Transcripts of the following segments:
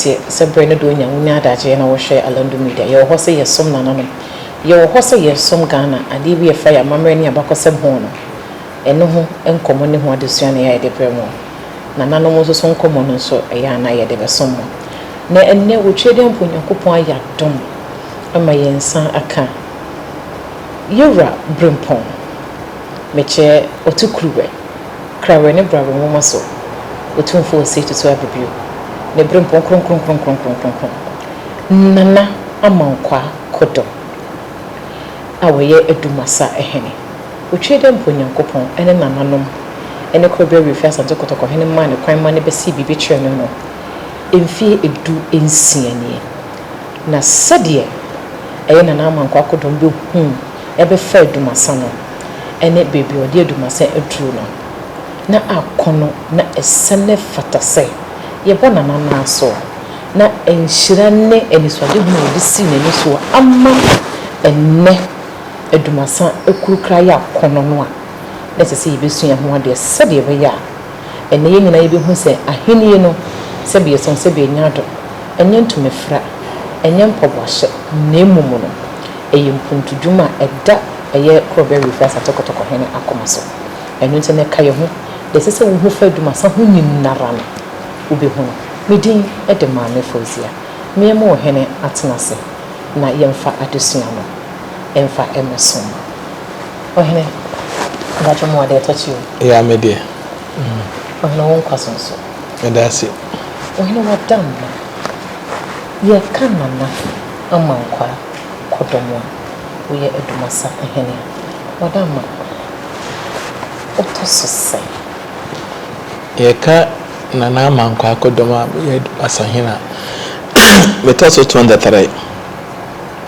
teɛ sɛ berɛ no deɛ ɔnya wonya adagyeɛ na wɔhwɛ Alandu Media yɛwɔ hɔ sɛ yɛsom nananom yɛwɔ hɔ sɛ yɛsom Ghana adeɛ bi a ɛfa yɛn amammerɛ ne yɛn abakɔsɛm ho no ɛno ho nkɔmmɔ ne ho adesua na yɛ a yɛde brɛ mo. Nananom nso so nkɔmmɔ no nso, ɛyɛ a na yɛde bɛsom wɔn. Na ɛnnɛ, wɔ Twerideɛ mpo, Onyankopɔn ayɛ adom ama yɛn nsa aka Yewura Brempong, mekyerɛ Ɔtukuruwɛ, Krawɛ ne Brawɛ nwoma so, Otumfoɔ Osei Tutu Abibio, ne Brempong Kronkron-Kronkron-Kronkron-Kronkron, Nana Amankwaa Kodom a ɔyɛ Dumassa Hene. Otwee dɛ mpo Nyankopɔn ne nananom ne kor ber a woefir Asante Kotoko hen maa no kwan ma no besee biribi kyerɛɛ no no, mfeɛ edu nsia nie. Na sɛdeɛ ɛyɛ Nana Ama Nkoa Kodong bɛhuu ɛbɛfaa Dumasa no ne baabi a wɔde Adumasa aduru no, na akɔ no na ɛsane fata sɛ yɛbɔ Nana no ara so a, na nhyira ne anisoadehunu a ɔde sii n'ani so a ama ɛnnɛ Adumasa akurukra yɛ akɔnnɔ no a, na ɛsɛ sɛ yebesua ho ade sɛnea ɛbɛyɛ a ɛnnɛ yɛn nyinaa yebehu sɛ Ahenni no, sɛbe yɛsɛ ho sɛbe yenya do, ɛnyɛ ntumefrɛ, ɛnyɛ mpaboahyɛ, na mmom no, ɛyɛ mpuntudwuma a ɛda ɛyɛ Korɔbea Wifiasa Tɔkɔtɔkɔ Hene akoma so. Ɛno nti, ɛnnɛ ka yɛn ho, nea ɛsɛ sɛ wuhu fa Adumasa ho nyinara no, wubehu no. Me din de Maame Fauzia. Me a mewɔ Hene atena ase. na yɛmfa adesua no mfa mmɛso mma Ɔhene. Mpakyɛ mo adeɛ tɔ kyi o. Yaa me deɛ. Ɔhene wo nkwa so nso. Meda ase. Ɔhene wada mma. Yɛka Nana Amankwaa Kodomoa, woyɛ Adumasa Hene a, wada mma. Wotɔ so sɛn? Yɛka Na na mankɔ akɔdɔm a meyɛ asahene a metɔ so twenty three.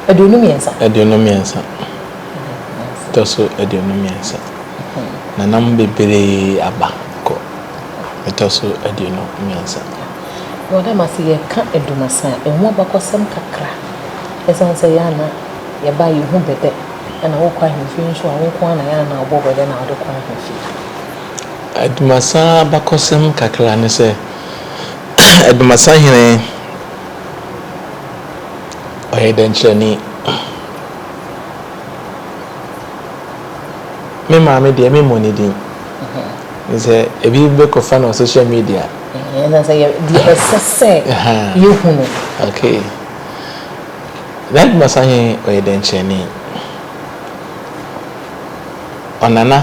Aduonu mmiɛnsa. Aduonu mmiɛnsa. Tɔ so aduonu mmiɛnsa. Na nam bebree aba kɔ. Metɔ so aduonu mmiɛnsa. Wɔ dɛm ase yɛka Adumasa a, ɛho abakɔsɛm kakra. Ɛsiane sɛ yɛn a na yɛba a yɛhu bɛ dɛ, ɛna wokɔ ahemfie nso a wo nko ara na yɛn a na wobɔ bɛ dɛ na wode kɔ ahemfie. Adumasa abakɔsɛm kakra ne sɛ, Adumasa hene ɔyɛ dɛnkyerɛni. Me maame deɛ me mmɔ ne din. Sɛ ebi bɛkɔfa no wɔ social media. Ɛna sɛ yɛ deɛ ɛsɛ sɛ yɛhu no. Okay. Na Adumasa hene ɔyɛ dɛnkyerɛni. Ɔnana.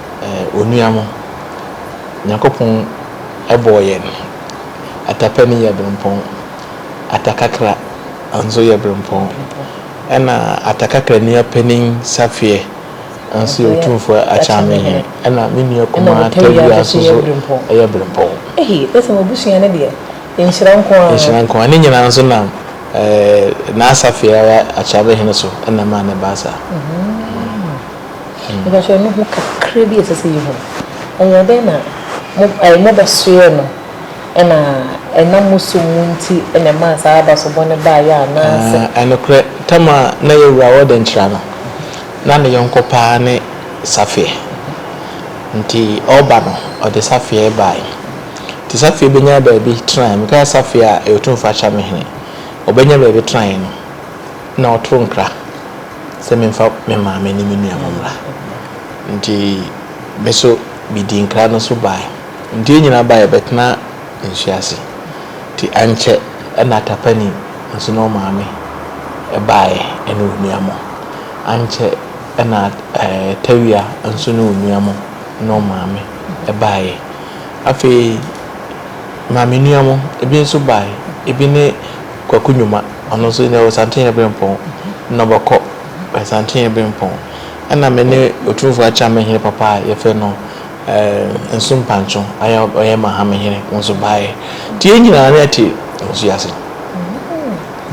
Onua mo, Nyankopɔn bɔɔ yɛn, ata pɛ no yɛ brempɔn, ata kakra nso yɛ brempɔn, ɛna ata kakra nua panin Safeɛ nso yɛ Otumfoɔ Akyame Hene, ɛna me nua kumaa Tawia nso so yɛ brempɔn. Ehi, bɛsɛ m'abusua no deɛ, nhyira nko ara. Nhyira nko ara. Ne nyinaa nso nam N'Asafeɛ ara Akyame Hene so na ɛmaa no baa saa. Nhwɛhwɛmu ho kakra bi a ɛsɛ sɛ yehu. Ɛyɛɛ dɛn na mobɛsoɛɛ no, na ɛnam mo som mu nti na ɛmaa saa abaso bɔne baeɛ anaasɛ? Aa, nokorɛ, Tamar a na ɛyɛ wura wɔ Denkyira no, na ne yɔnko pa ara ne Safie. Enti ɔreba no, ɔde Safie baeɛ. Enti Safie bɛnyaa baabi tenaeɛ. Mekae Safie a, ɛyɛ Otumfoɔ Akyerɛmehene. Ɔbɛnyaa baabi tenaeɛ no. Na ɔtoo nkra sɛ memfa me maame ne me nua no mmra. Enti me nso midii nkra no so bae. Enti yɛn nyinaa bae bɛtenaa nsu ase. Enti ankyɛ na Tapani nso ne wo maame baeɛ ne wo nua mo. Ankyɛ na Tawia nso ne wo nua mo ne wo maame baeɛ. Afei maame nua mo bi nso bae. Ebi ne. Kwaku Nyuma, ɔno nso ɔwɔ Santenyɛ Berempɔn, Nnɔbɔ Kɔ, Santenyɛ Berempɔn, ɛna me ne Otumfoɔ Akyerɛma Hene papa a yɛfrɛ no Nso Mpankye a ɔyɛ Mahame Hene nso baeɛ. Nti yɛn nyinaa na yɛte nsuo ase.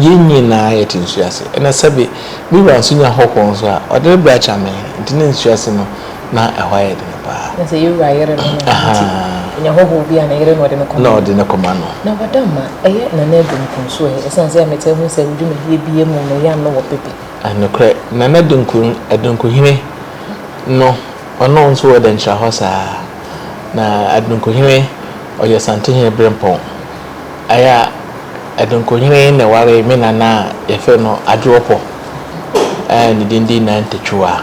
Yɛn nyinaa yɛte nsuo ase. Ɛna sɛbe me wura nso nya hɔhoɔ nso a, ɔde no brɛ Akyerɛma Hene. Nti na nsuo ase no, Na ɛhɔ ayɛ den paa. Na sɛ yɛn wura yere no no nti, ɔnya hɔhoɔ bi a, ne yere na ɔde no kɔma no. Na ɔde no kɔma no. Na Wadamma, ɛyɛ Nana Adu Nkunsu ɛ, ɛsiane sɛ me taa hu sɛ wo dwumadie biara mu no yam no wɔ pepe. Nokorɛ, Nana Adunkuhene no, ɔno nso wɔ dɛnkyira hɔ saa. Na Adunkuhene ɔyɛ Asantehene Berempɔn. Ɛyɛ a Adunkuhene na ɛwaree me Nana a yɛfrɛ no Adwoɔpɔ a ne din de Nantɛtwua.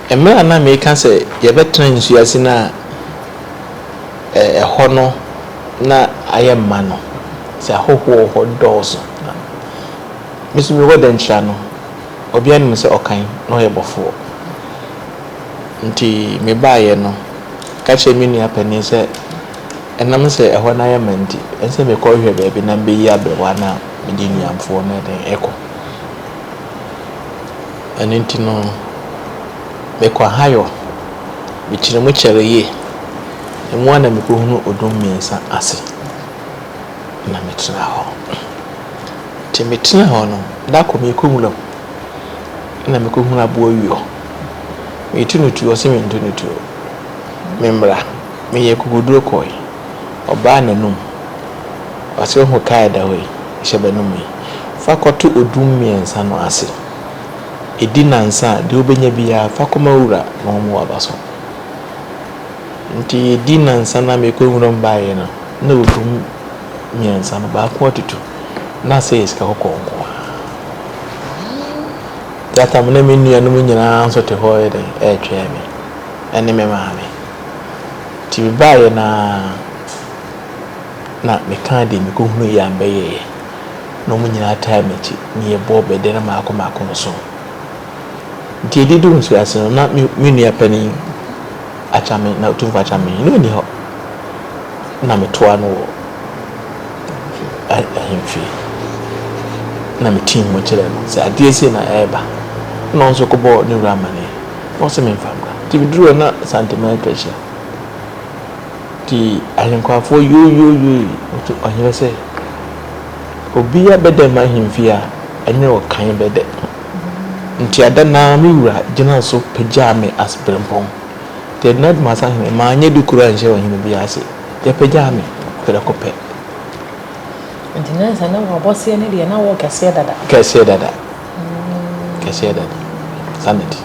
Mmerɛ a na mereka sɛ yɛbɛtena nsuo ase no a, ɛhɔ no na ayɛ ma no, sɛ ahɔhoɔ wɔ hɔ dɔɔso. Na me nso mewɔ dɛnkyira no, obiara nim sɛ ɔkan na ɔyɛ bɔfoɔ. Nti mebaeɛ no, meka kyerɛɛ me nua panin sɛ, ɛnam sɛ ɛhɔ no ayɛ ma nti, ɛsɛ sɛ mekɔhwehwɛ baabi na mebɛyi aberɛwa no a mede nnuamfoɔ no ɛkɔ. Ɛno nti no, mekɔ ahayɔ, mekyere mu kyɛre yie. Emu ara na mekɔhunu odum mmiɛnsa ase, na metena hɔ. Nti metenaa hɔ no, da koro merekɔ nwura mu, ɛnna mekɔhunu aboa wieɔ. Meretu no tuo, ɔse mentu no tuo, memmra. Meyɛɛ akokoɔduro kɔɔe, ɔbaa n'anom, ɔse wohu kaa a ɛda hɔ yi, hyɛ bɛ anom yi, fa kɔto odum mmiɛnsa no ase. Di nnansa a, deɛ wobɛnya biara, fa kɔma wura na ɔmmoa aba so. Nti yɛdi nnansa no a mekɔ nwuram baeɛ no, na ɔdum mmiɛnsa no, baako atutu. Na asɛ yɛ sika kɔkɔɔ nko ara. That time na me nuanom nyinaa nso te hɔ yɛ dɛn ɛretwɛn me ɛne me maame. Nti mebaeɛ no ara na mekaa deɛ mekɔhunu yɛ a mɛyɛeɛ. Na wɔn nyinaa taa m'akyi, na yɛbɔɔ bɛ dɛn mmaako mmaako nson. Nti ɛde duu mfiase no, na me me nua panin Akyame, na Otumfoɔ Akyame, na ɔnni hɔ. Na metoaa no wɔ a ahemfie, na metii mu kyerɛɛ no sɛ adeɛ sei na ɛreba. Ɛnna ɔno nso kɔbɔɔ ne wura amaneɛ, na ɔse memfa mmra. Nti meduruu hɔ na Santemaa atwa ahyia. Nti Ahenkwafoɔ yooyooyooii, ɔhene sɛ. Obia bɛdɛ m'ahemfie a, ɛnyɛ wo kan bɛdɛ. Ntiada no ara me wura gyinaa so pagyaa me as berempɔn. Deɛ ɛgyina Dwuma Sahene, manyɛ bi koraa anhyɛ ɔhene biara ase. Yɛpagyaa me prɛko pɛ. Nti nyansa ne w'abɔseɛ no deɛ na wo kɛseɛ dada. Kɛseɛ dada. Kɛseɛ dada. Sanity.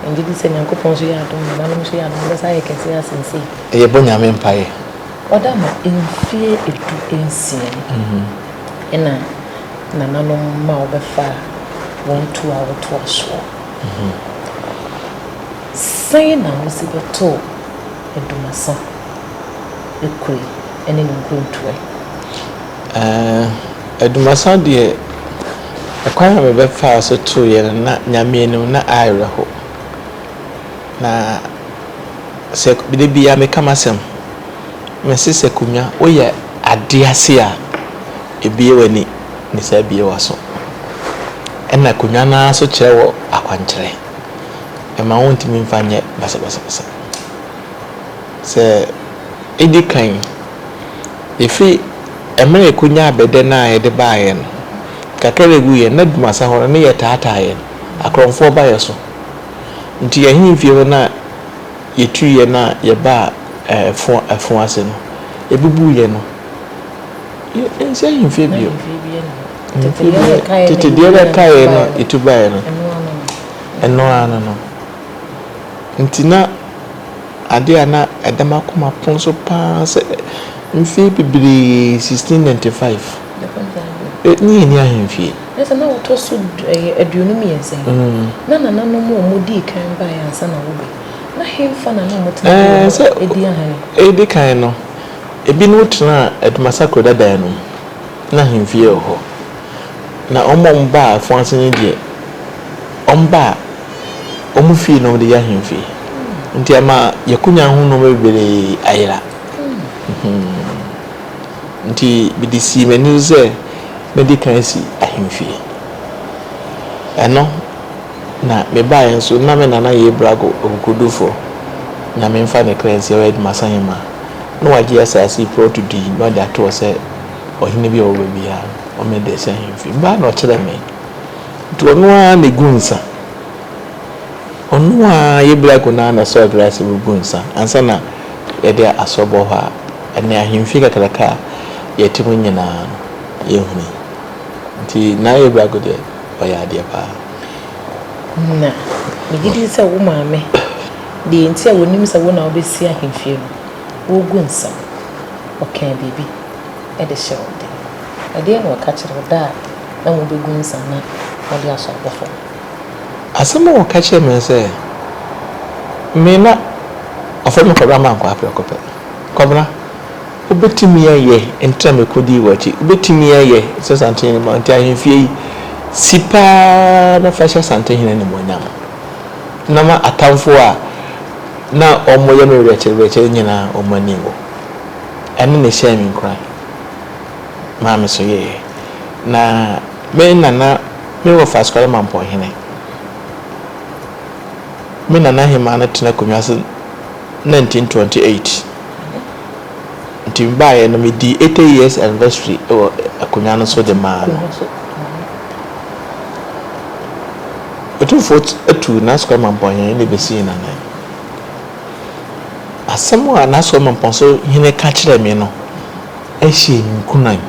Megyedi sɛ Nyankopɔn nso yɛ adom, nananom nso yɛ adom, wobɛsan ayɛ kɛseɛ asen sei. Yɛbɔ Nyame mpaeɛ. Ɔda no mfie du nsia ni na nananom ma wɔbɛfaa wɔn tu a wɔtoa soɔ. Sɛn na wodzi bɛtoo Dumasa Ekuri ne ne nkrontuɛ? Ɛɛ, Dumasa deɛ, ɛkwan a mebɛfaa so tooeɛ no, na Nyame anim, na aayerɛ ho. Na sɛ da biara meka m'asɛm, mese sɛ Kumya woyɛ ade ase a, ɛbue w'ani ne sɛ abue w'aso. Ɛna Kumya no ara nso kyerɛ wo akwankyerɛ. Ɛma wontumi mfa nyɛ basabasabasa. Sɛ ɛdi kan, ɛfiri mmerɛ a ɛkɔnyaa bɛdɛ no a yɛde baeɛ no, kakra a ɛguiɛ no na Dumasi ahɔhoɔ no yɛtaataaeɛ, akorɔmfoɔ ba yɛn so. Nti yɛn ahemfie hɔ no a yɛtuiɛ no a yɛbaa ɛfoɔ ase no, yɛbubuiɛ no, yɛnsi ahemfie bio. Tete deɛ na ɛkaeɛ no yɛtu baeɛ no, ɛno ara no no. Nti na adeɛ a na ɛda m'akoma pono so paa sɛ mfeɛ bebree, 1695, ne yɛnni ahemfie. Na sɛ na wɔtɔ so ɛyɛ aduonu mmiɛnsa yi, na nananom a wɔdii kan baeɛ ansa na wɔbɛ. Na hemfa na na wɔtena bi wɔ hɔ a ɛdi ahane? Ɛdi kan no, ebinom tenaa Adumasa kuro dadaa no mu. Na ahemfie wɔ hɔ. Na wɔn a wɔbaa afoa ase no deɛ, wɔbaa wɔn fie na wɔde yɛ ahemfie. Nti ama Yɛkonya ho nnoɔma bebree ayera. Enti mede sii m'ani so sɛ mɛdi kan asi ahemfie. Ɛno na mebaeɛ nso, na me nana yɛ Brago Akokodurofoɔ, Nyame mfa ne kra nsie, ɔyɛ Dumasahemma, na wagye asaase yi prɔto din na ɔde ato hɔ sɛ ɔhene bi a ɔwɔ baabiara no, ɔmmɛda asi ahemfie. Mebaeɛ na ɔkyerɛɛ me, nti ɔno ara na ɛgu nsa. Ɔno ara yɛ Blako no ara na ɔsɔɔ gla sɛ wogu nsa ansa na yɛde asɔ bɔ hɔ a, ɛne ahemfie kakraka a yɛte mu nyinaa no, yɛhunii. Nti na yɛ Blako deɛ, ɔyɛ adeɛ pa ara. Na megye din sɛ wo maame deɛ nti a wɔnim sɛ wo na wobɛsi ahemfie no, wogu nsa. Ɔkaa biribi de hyɛɛ wo den. Ɛdeɛn na ɔka kyerɛɛ wo da a na mobɛgu nsa na mode asɔ abɔ fam? Asɛm a ɔka kyerɛɛ me ne sɛ, me na ɔfrɛ me Kwabena Mankwaa prɛko pɛ. Kwabena, wobɛtumi ayɛ nti na mekɔdii w'akyi. Wobɛtumi ayɛ sɛ Asantehene ma nti ahemfie yi, si pa ara na fa hyɛ Asantehene animuonyam. Na ma atamfoɔ a na wɔyɛ me werɛkyerɛwerɛkyerɛ nyinaa wɔn ani nwu. Ɛno na ɛhyɛɛ me nkuran maa mesoeɛ. Na me nana. Me wɔ Faskare Mampɔnhene. Me nana hemaa no tena akonnwa so nineteen twenty eight nti me baeɛ no me dii eighty years anniversary wɔ akonnwa no so de maa no. Otumfoɔ atuu N'Askɔre Mampɔnhene de besii n'anan. Asɛm a N'Askɔre Mampɔn so hene ka kyerɛɛ me no hyɛɛ me nkuran.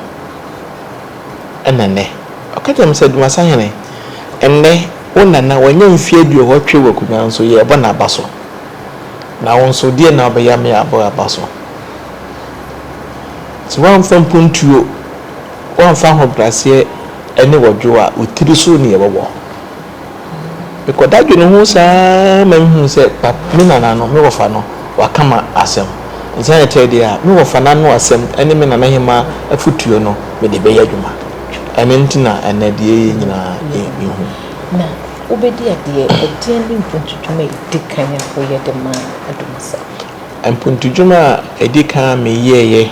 na nnɛ. Ɔka kyerɛɛ me sɛ, Dumasahene, nnɛ wo nana wanya mfeɛ aduɔwɔtwe wɔ akonnwa nso yɛrebɔ no aba so. Na wo nso deɛn na wobɛyɛ ama yɛabɔ wo aba so? Sɛ woamfa mpuntuo, woamfa ahobrɛaseɛ ne wɔdwoɔ a, wo tiri so na yɛbɛbɔ. Mekɔda dwene ho saa ara ma mehunu sɛ pap me nana no, me wɔfa no, waka ma asɛm. Nsa yɛ tɛɛ deɛ a, me wɔfa no ano asɛm ne me nana hemaa afotuo no mede bɛyɛ adwuma. Ɛno nti na ɛnnɛ deɛ ɛyɛ nyinaa yɛ me hu. Na wobɛdi adeɛ ɛdeɛn ne mpuntudwuma a ɛdi kan a woyɛ de maa Adomasa? Mpuntudwuma a ɛdi kan a meyɛeɛ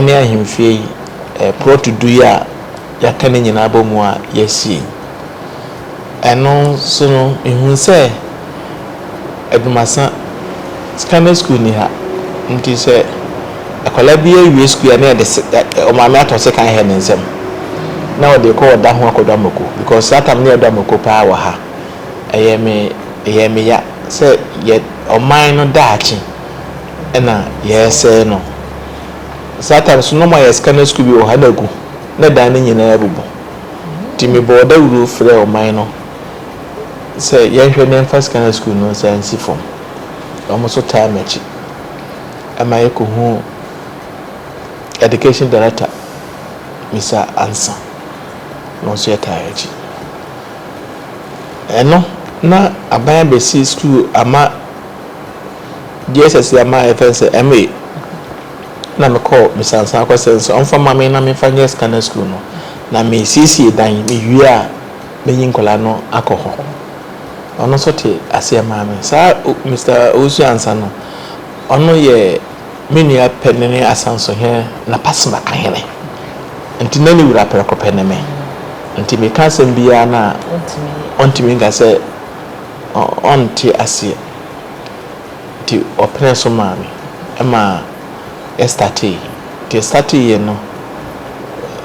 ne ahemfie yi, plot du yi a yɛaka no nyinaa abɔ mu a yɛasi yi. Ɛno so no, mehu sɛ adwumasa, sika ne sukuu nni ha. Nti sɛ akwadaa bi awie sukuu a na yɛde ɔmaame atɔ sekan hɛ ne nsam na ɔde kɔ ɔda ho akɔdɔ amako because saa tam no yɛdɔ amako paa wɔ ha. Ɛyɛ me ɛyɛ me ya sɛ yɛ ɔman no daakye na yɛresɛe no. Saa time so na ɔmo ayɛ scanner school bi wɔ ha na agu na dan no nyinaa abubu nti me bɔɔ dawuro frɛɛ ɔman no sɛ yɛnhwɛ na yɛnfa scanner school no nsan nsi fam ɔmo nso taa makyi ɛma yɛ kɔ huu education director Mister Ansa na ɔnso yɛ taa akyi ɛno na aban abɛsi school ama. Deɛ ɛsɛ sɛ ama yɛfrɛ no sɛ MA. Ɛna mekɔɔ mesansan kɔsrɛ no sɛ ɔmfa mma me na memfa nyɛ Scanner School no. Na mesiesie dan, mewie a mɛyi nkwadaa no akɔ hɔ. Ɔno nso te aseɛ maa me. Saa Mister Owusu Ansah no, ɔno yɛ me nua panini Asansohene Napasima Kahene. Nti na ne wura prɛko pɛ ne me. Nti meka asɛm biara no a, ɔntumi nka sɛ ɔnte aseɛ. Nti ɔpenee so maa me ma yɛstartee. Nti yɛstartee yɛ no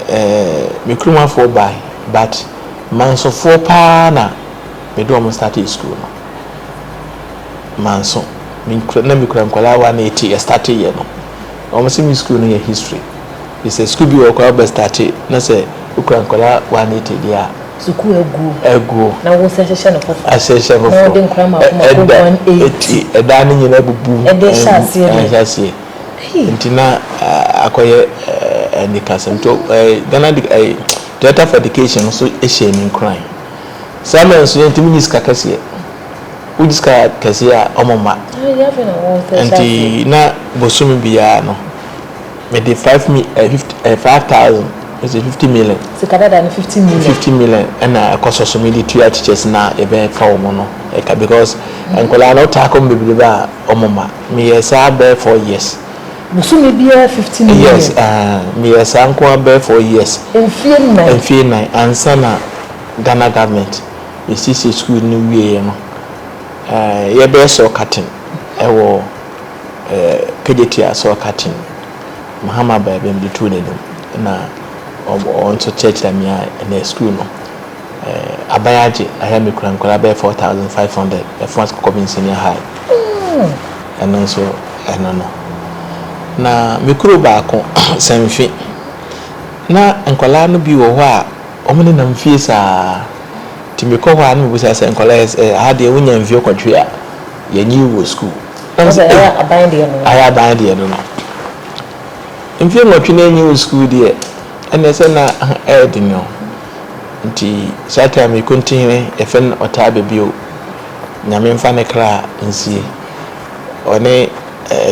ɛɛ me kurom afoɔ bae but Mansofoɔ paa na me de wɔn startee school no. Manso, na me kura nkwadaa one eighty yɛstartee yɛ no. Wɔn se me school no yɛ history. Te sɛ sukuu bi wɔ hɔ koraa a wobɛ starte na sɛ wokura nkwadaa one eighty deɛ a. Sukuu aguo. Aguo. Na wosan hyehyɛ no foforɔ. Asan hyehyɛ no foforɔ. Na wode nkwadaa mako mako one eighty. Ɛda eti ɛdan no nyinaa abubu. Ɛde hyɛ aseɛ deɛ. Ɛhyɛ aseɛ. Hii. Nti na akɔyɛ anikasɛm. Nti ɛɛ Ghana de ɛɛ Director for Education no nso hyɛɛ me nkuran. Saa mmerɛ no nso yɛntumi nyi sika kɛseɛ. Wogye sika kɛseɛ a wɔmma. Yɛn afei na wɔsan hyɛ aseɛ. Nti na bosome biara no. Mede five mi ɛɛ fifty ɛɛ five thousand ɛsɛ fifty million. Sika dada no fifty million. Fifty million ɛna ɛkɔ sɔ so mi de tua teachers na ɛbɛ fa wɔn no ɛka because nkwadaa no taa kɔ mu bebrebe a wɔn ma mi yɛ saa bɛɛ four years. Bosome biara fifty million. Yes ɛɛ mi yɛ saa nkoa bɛɛ four years. Mfie nnan. Mfie nnan ansa na Ghana government esiesie school no wie yɛ no ɛɛ yɛ bɛ sɔ curtain ɛwɔ. Kejetia asɔr katsin Mahama baabi a medze too n'enyim na ɔno so kyerɛkyerɛɛ me a ndɛ skuul no aban agye ayɛ a mekura nkwadaa bɛyɛ four thousand five hundred Efuas Kɔkɔbin Senior High ɛno nso ɛno no na me kuro baako Sɛnfe na nkwadaa no bi wɔ hɔ a wɔn nenam fie saa nti mekɔ hɔ a na mebisa sɛ nkwadaa yi ha deɛ wonya mfie kɔtwe a yɛnyi wɔ skuul. Ɔno sɛ ayɛ aban deɛ no no. Ayɛ aban deɛ no no. Mfeɛ nwɔtwe na ɛnyi wo sukuu deɛ ɛnneɛ sɛ na ɛyɛ dene o. Nti saa time yi Kontinhene yɛfrɛ no ɔtaa bɛ bio. Nyame mfa ne kra nsie. Ɔne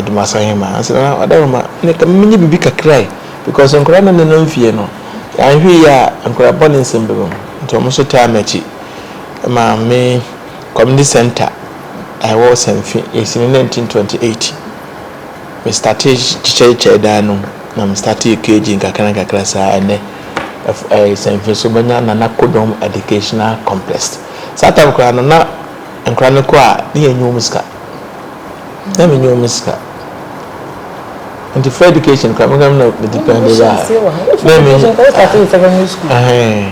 Dumasa Hemaa nso na na ɔda mema ne ka menyɛ biribi kakra yi because nkwadaa no nenam fie no yɛanhwɛ yie a nkwadaa bɔne nsɛm bɛba mu nti wɔn nso taa m'akyi ma me Community Centre a ɛwɔ Ɔsanfi ɛsi ne nineteen twenty eight me startee kyekyɛ kyekyɛɛ dan no na me startee KG nkakra nkakra saa ɛnɛ ɛyɛ Ɔsanfi so manya Nana Kodom Educational Complex saa time koraa no na nkora no kɔ a ne yɛ nyɛ wɔn sika na me nyɛ wɔn sika nti free education koraa me koraa na me depend ɛyɛ a na me ɛhɛn.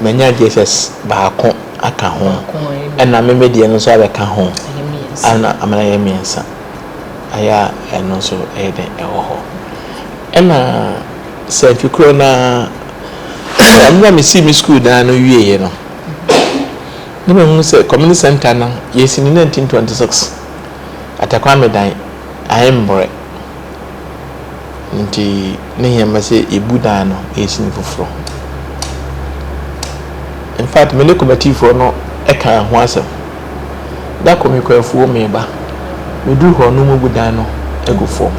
manya Jesus baako aka ho, ɛna me me deɛ no nso abɛka ho, ɛna ama no ayɛ mmiɛnsa. Ayɛ a ɛno nso ɛyɛ dɛn ɛwɔ hɔ. Ɛna sɛ mfe korɔ no ara, ɛno na mesii me sukuu dan no wieeɛ no, na mahunu sɛ community center no yɛsi no 1926, Attakwame dan, Aemborɛ. Ntsi ne hia ma sɛ ebu dan no esi no fofor. In fact, me ne kɔmɛtifoɔ no kaa ho asɛm. Da kor mekɔ efuom reba, medur hɔ no woebu dan no egu famu.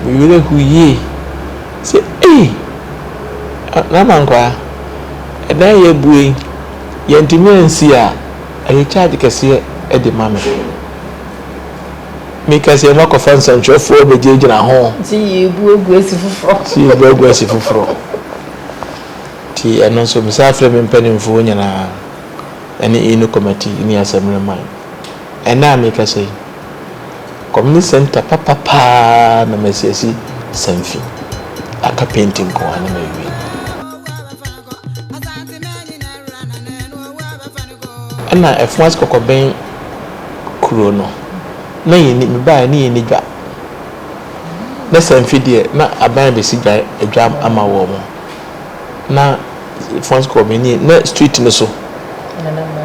Me werɛ hoow yie sɛ ei! Nana Nkwaa, dan a yɛabue yi, yɛanntumi annsi a, ɔyɛ charge kɛseɛ de ma me. Me kɛseɛ no akɔfa nsɛntwerɛfoɔ abɛgyinagyina ho. Nti yi bu agu asi foforɔ. Nti yi bu agu asi foforɔ. Nti ɛno nso mesan frɛ me mpanimfoɔ nyinaa ɛne Inu Kɔmati ne Asɛmmerɛ Man. Ɛnnɛ a merekasa yi, Community Centre papa paa na masiasi Samfi. Aka penti nko ara na mawie. Nna fon ase kɔkɔbɛn kurow no, na yenni mebae na yenni dwa. Na sɛ mfe deɛ, na aban abɛsi dwa dwa ama wɔn. Na fon ase kɔkɔbɛn nie, na street no so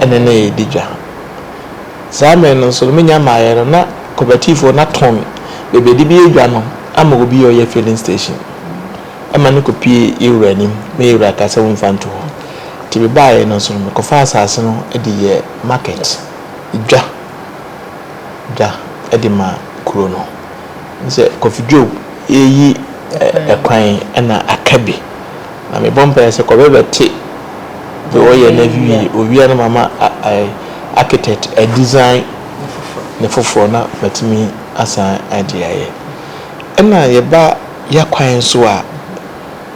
ɛna na yɛdi dwa. Saa mmerɛ no nso, me nya mmaeɛ no, na kɔbatifoɔ no atɔn baabi a yɛde bɛyɛ dwa no ama obi a ɔyɛ filling station. ma no kɔpue yɛ wura anim, na yɛ wura kaa sɛ womfa nto hɔ. Nti mebaeɛ no nso no, mekɔfaa asase no de yɛɛ market, dwa, dwa de maa kuro no. Wohu sɛ Kofi Dwoo reyi kwan na aka bi. Na mebɔ mpaeɛ sɛ Kɔbɛ bɛte deɛ ɔyɛ no awie, ɔwie a na mama architect a design ne foforɔ na matumi asan de ayɛ. Ɛna yɛba. Yɛ kwan so a,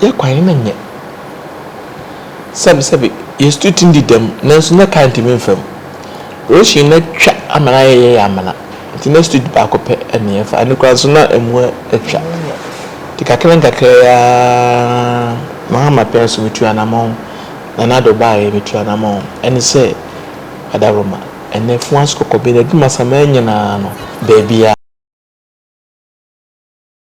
yɛ kwan no nyɛ. Sɛbesɛbe, yesutu tumi di dɛm, nanso na kar ntumi mfa mu. Russian no atwa ama no ayɛ yɛn amena, enti na street baako pɛ na yɛfa, ɛno koraa nso na amu atwa. Enti kakrankakra yi ara na Hama pɛɛ so metu anamɔn, na na Ado baeɛ metu anamɔn. Ɛne sɛ, Adaworoma, ɛnnɛ Fuaso, Kɔkɔben, Adwuma, Samaa nyinaa no, baabiara.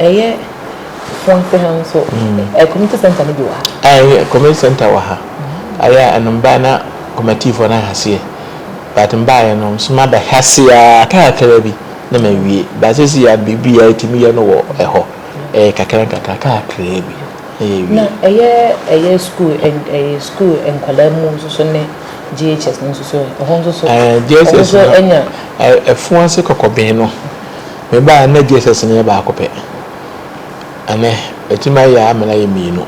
Ɛyɛ Fɔnse ha nso, ɛ community center no bi wɔ ha? Ɛyɛ community center wɔ ha. Ayɛ a ɛno mbaɛ na kɔmɛtiifoɔ no ahaseɛ but mbaɛ no nso maba hase ara kakra bi na mawie but sesei a biribiara yɛtumi yɛ no wɔ ɛhɔ ɛyɛ kakra nkakra kakra bi na yɛawie. Na ɛyɛ ɛyɛ school ɛn ɛyɛ school nkwadaa mu nso so ne JHS no nso so ɛ ɛhɔ nso so ɔmo nso anya? Ɛɛ JHS no ɛ ɛfoase kɔkɔben no Me ba, nnɛ Jesus no yɛ baako pɛ. Ɛnnɛ, watumi ayɛ amena yɛ mmienu,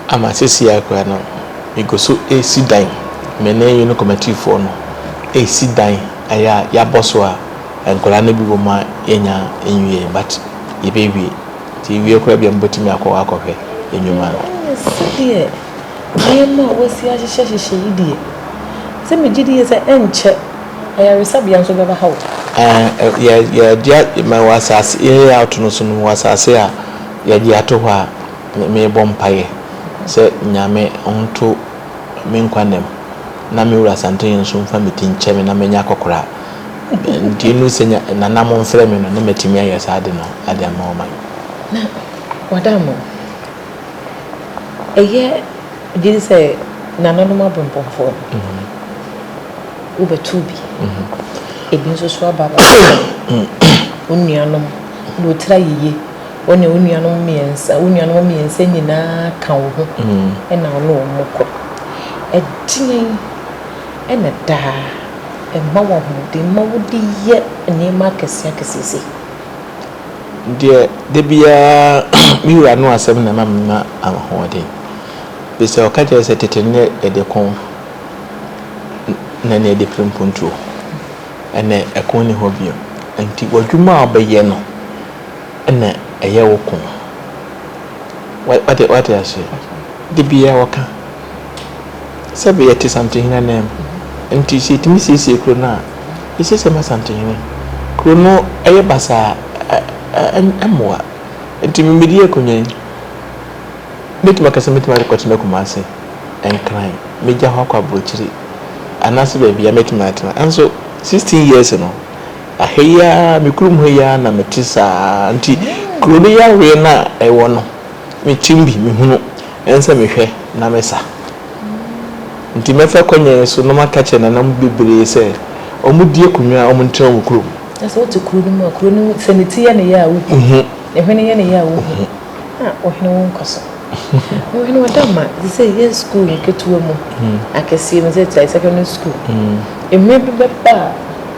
ama seesei ara koraa no, migu so resi dan. Me ne Union Committeefoɔ no resi dan a yɛabɔ so a nkwadaa no bi wɔ mu a yɛnnya nwieeɛ, but yɛbɛwie. Nti yɛwie koraa bi a, mobɛtumi akɔ hɔ akɔhwɛ nnwuma no. Ɛnyɛ sɛdeɛ nneɛma a wɔasi ahyehyɛhyehyɛ yi deɛ, sɛ megye die sɛ ɛnkyɛ. Ayaresabea nso bɛba ha o. Ɛɛ, yɛ, yɛde a, ma wɔ asase, yɛ layout no so no, mewɔ asase a yɛde ato hɔ a, me, mebɔ mpaeɛ sɛ Nyame nto me nkwa nna mu, na me wura Santene nso mfa me ti nkyɛ me na manya akɔkoraa. Nti ɛno sɛ nya, Nana momfrɛ me no, na matumi ayɛ saa ade no de ama wɔn. Na, wɔada ama wo? Ɛyɛ gyidi sɛ nananom abempɔmfoɔ no, wobɛto bi. Ebi nso so aba no, wo nuanom na wɔtira yiye. Wo ne wo nuanom mmiɛnsa, wo nuanom mmiɛnsa nyinaa ka wo ho na wo ne wɔn kɔ. Ɛdeɛn ɛna daa ɛma wo ahoɔden ma wode yɛ nneɛma akɛseɛ akɛseɛ sei? Deɛ da biara me wura no asɛm na ɛma menya ahoɔden. Ɛfiri sɛ ɔka kyerɛ me sɛ, Tete no yɛde ko, na ɛnnɛ yɛde pere mpuntuo. Ɛnnɛ ɛko nni hɔ bio. Enti w'adwuma a wobɛyɛ no na ɛyɛ wo ko. Wate aseɛ? Da biara ɔka. sɛ bɛ yɛte Santehene ananmu. Nti sɛ yɛtumi siesie kuro no a, yɛsiesie ma Santehene. Kuro no yɛ basaa a, ɛ, ɛ, ɛmmoa. Nti me medi akonnwa yi, mɛtumi aka sɛ mɛtumi akɔ akɔtena Kumase, Nkran, mɛgya hɔ akɔ Aburokyire, anaasɛ baabiara mɛtumi atena. Nanso sixteen years no, ɛha yi ara, me kurom ha yi ara na mete saa ara. Nti kuro no yareɛ no a ɛwɔ no, Me trim bi me hunu ɛnsɛ me hwɛ na me sa nti mɛ fɛ kɔ nyɛn so na ɔmɔ aka kyerɛ nana mu bebree sɛ ɔmɔ di akonwa a ɔmɔ ntena ɔmɔ kuro mu. Kyerɛ sɛ wote kuro no mu a kuro no mu sɛ ne ti yɛ ne ya a wo hu ne hwene yɛ ne ya a wo hu a wo hwene wo nkɔ so wo hwene wo da ma te sɛ yɛ school nketewa mu akɛseɛ mu sɛ te secondary school ɛhwene bi bɛba a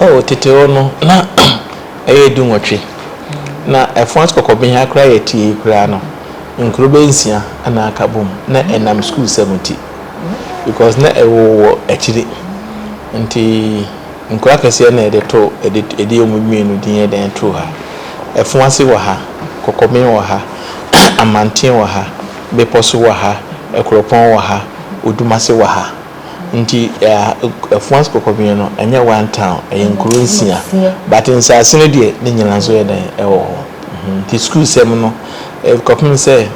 Oh, tete hɔ no, na ɛyɛ dunwɔtwe. Na ɛfã so kɔkɔben ha koraa yɛ tiee koraa no, nkuro bɛyɛ nsia na aka bom, na ɛnam sukuusɛm nti. Because na ɛwoo wɔ akyiri, nti nkuro akɛseɛ na yɛde too, yɛde, yɛde wɔn mmienu din yɛ dɛn too ha. Ɛfã se wɔ ha, kɔkɔben wɔ ha, Amanten wɔ ha, Bepɔ so wɔ ha, Akuropɔn wɔ ha, Odumase wɔ ha. Nti Afuase Kɔkɔbea no ɛnyɛ one town ɛyɛ nkuro nsia but nsaase no deɛ ne nyinaa nso yɛ dɛn ɛwɔ hɔ nti sukuu sɛm no kɔpem sɛ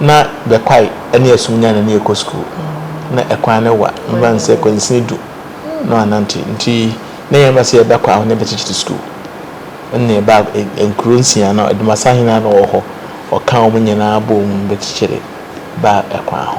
na Bɛkwae ɛne Asumnya na ne ɛkɔ sukuu na ɛkwan no wa meba no sɛ kwansini du na wanante nti na yɛn ba sɛ yɛbɛkɔ aho ne bɛkyekyere sukuu ɛna yɛba nkuro nsia no Adumasahene na ɔwɔ hɔ ɔka wɔn nyinaa bom bɛkyekyere baa ɛkwan ho.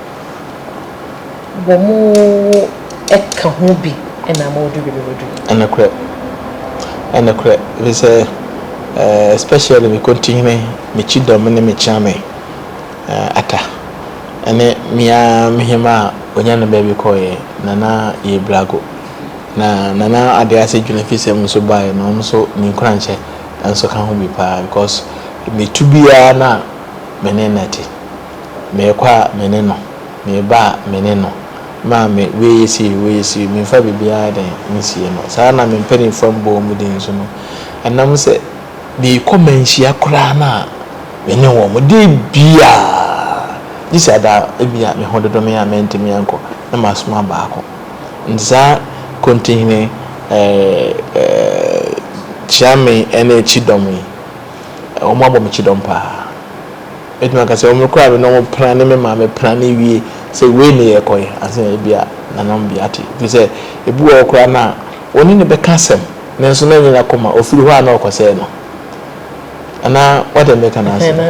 Wɔn ka ho bi na ma wɔdu baabi a wɔadu. Nokorɛ, nokorɛ, ɛfiri sɛ, especially me Kontihene, me Kyidɔm ne me Kyeame Atta, ne me ara me Hemma a ɔnya no baabi kɔeɛ, Nana Yebirago, na Nana Adease Dwenefisɛm nso baeɛ no, wɔn nso me nkuranhyɛ nso ka ho bi pa ara because metu biara no a, me ne no te. Meekɔ a me ne no, meeba a me ne no, maame woeye sei, woeye sei, memfa biribiara dɛn nsie no. Saa ara na me mpanimfoɔ a mebɔ wɔn din nso no, ɛnam sɛ meekɔ manhyia koraa no a, me ne wɔn. Da biara, gye sɛ ɛda a ebia me ho dodɔ me a mantumi ankɔ, na masoma baako. Enti saa Kontinhene Kyeame ne Kyidɔm yi, wɔabɔ me kyidɔm pa ara. Mɛtumi aka sɛ wɔn koraa me na wɔn pena ne me maame pena ne wie sɛ wei na yɛ kɔyɛ ansa na ebi a nananom bi ate efiri sɛ ebi wɔ hɔ koraa na wɔn ne no bɛka asɛm nanso na ɛnyɛ n'akoma ofiri hɔ a na ɔkɔ sɛɛ no anaa wɔde mɛka no ase no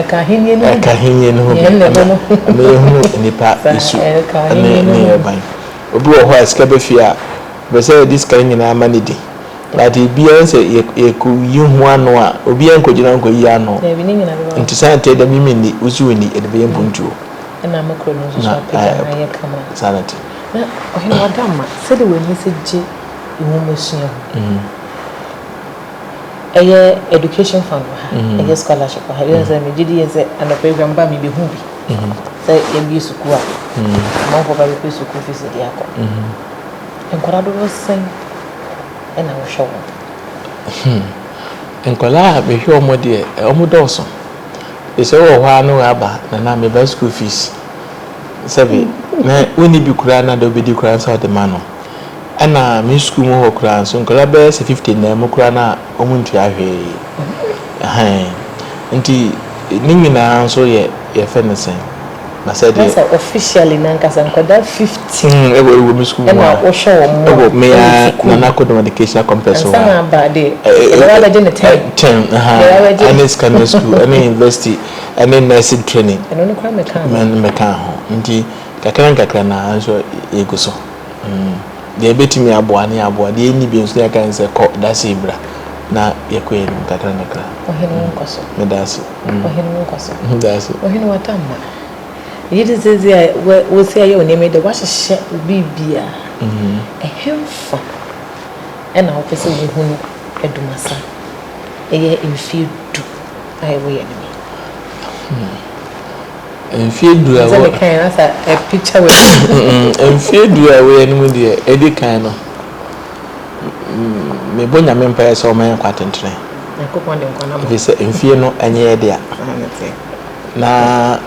ɛka ahenni no ho bi ɛmɛ yɛ hunu nipa esu ɛne ne yɛ ban obi wɔ hɔ a sika bɛfie a ɔpɛ sɛ yɛde sika nyinaa ma ne di. but ebiaa ɔhu sɛ yɛkɔ yi ho ano a obiaa nkɔ gyina nkɔ yi ano nti saa nti ɛdɛ me me nni wo so wo nni yɛde bɛyɛ mpuntuo na saa na te. Na ɔhene wada ma sɛdeɛ w'ani sɛ gye nwoma sua ho ɛyɛ education fund wɔ ha ɛyɛ scholarship wɔ ha yɛn sɛ megye di yɛn sɛ anɔpa awia mba mi bɛhu bi sɛ yɛbie sukuu a amanfoɔ ba bɛpɛ sukuu fees de akɔ nkwadaa dodoɔ sɛn na wohwɛ wɔn? Hmm. Nkwadaa a mehwɛ wɔn deɛ, wɔdɔɔso. Ɛsɛ wɔ hɔ ara na wɔaba na na meba school fees. Sɛbi, na wonni bi koraa na de wobɛdi koraa nsa wɔde ma no. Ɛna me school mu hɔ koraa nso, nkwadaa bɛyɛ sɛ 50 nnan mu koraa na wɔntua hwee. Ahan. Nti ne nyinaa nso yɛ yɛfɛ ne sɛn. Na sɛ deɛ. Na sɛ officially no ankasa nkwadaa fifteen. Mm, ɛwɔ ɛwɔ mi sukuu mu a. Ɛna wohwɛ wɔn mu a. Ɛwɔ mi a Nana Kodom Educational Complex wɔ hɔ a. Ansa na aba de, ɛbɛba abɛgye ne ten. Ten, aha. Ɛbɛba abɛgye. Ɛne secondary school, ɛne university, ɛne nursing training. Ɛno no koraa mɛka ho. Mɛ mɛka ho. Nti kakra nkakra na nso yɛgu so. Mm. Deɛ ebetumi aboa ne aboa, deɛ enni bi nso ne yɛka ne sɛ kɔ dase bra na yɛkɔ yɛn anim kakra nkakra. Ɔhene nkɔ so. Meda ase. Ɔhene wo nkɔ so. Ɔhene w'adamma. Megye di sɛ sɛ wosi ayɛ wo nneɛma yi dɛ woahyehyɛ wo biribia. Ɛhenfa na wopɛ sɛ wohu no Dumasa? Ɛyɛ mfeɛ du a ɛwɔ yɛn anim yi. Mfeɛ du a ɛwɔ. Sɛ mekaeɛ na sɛ ɛpicture w'anim. Mfeɛ du a ɛwɔ yɛn anim deɛ, ɛdi kan no. mebɔ Nyame mpaeɛ sɛ ɔma yɛn nkwa atentene. Nyankopɔn de nkwa no ama. Ɛfiri sɛ mfie no ɛnyɛ yɛ dea. Na